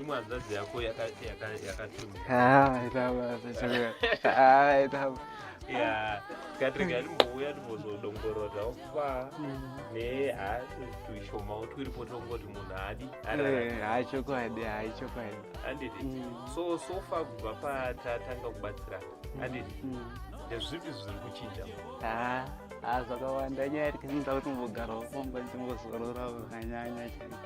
imwe hanzvadzi yako yakatumikatrega ndimbouya ndimbozodongorora ofa netuishomawo twiripo tongoti munhu haadi haichokwadi haichokwadi anditi so sofa kubva patatanga kubatsirana anditi ndezvipi zviri kuchinja zvakawanda nyaya iri kuti ndimbogarawo pamba ndimbozorora zvakanyanya chaiko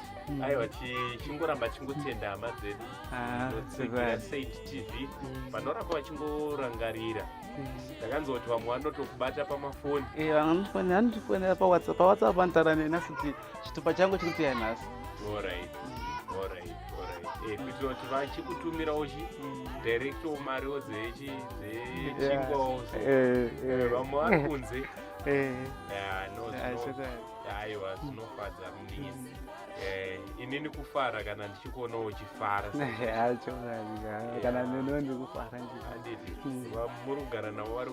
mm. aiwa chingoramba chingotenda hama dzedu ah, saint tv mm. vanoramba vachingorangarira mm. ndakanzoti vamwe vanotokubata pamafoni eh, vamwe vanotifonera pawhatsapp pawhatsapp vanotaura neni asi kuti chitupa changu chiri kuteya nhasi orit orit orit kuitira kuti vachikutumirawo chi directo mariwo dzechingwawo vamwe vari kunze aiwa zvinofadza Eh, inini kufara kana ndichikuona uchifara kana neno ndikufara anditi muri kugara navo vari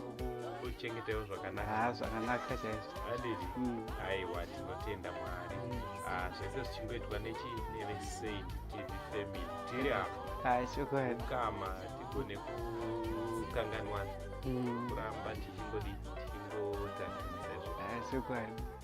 kuchengetaiwo zvakanaka zvakanaka chaizvo anditi hmm. aiwa tinotenda mwari hmm. ah, zvese zvichingoitwa nechinevesaid tv family tiri apo ah, chokwadi kama tigone kukanganwana hmm. kuramba tichingodii tichingodzanisa izvo ah, chokwadi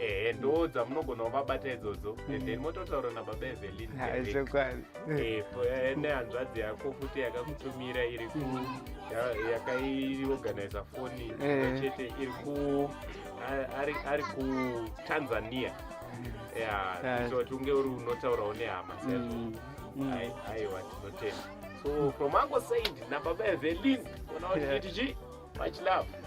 ehe ndoo dzamunogona kuvabata idzodzo and mm. then mototaura nababa evelinchokwadi eh, eh, nehanzvadzi yako futi yakakutumira iri ku mm. yakaiorganiza foni eh. chete iri ku ari kutanzania mm. kuti unge uri unotaurawo nehama saizvo aiwa tinotenda so from ango said nababa evelin ona kuti chiti chii much love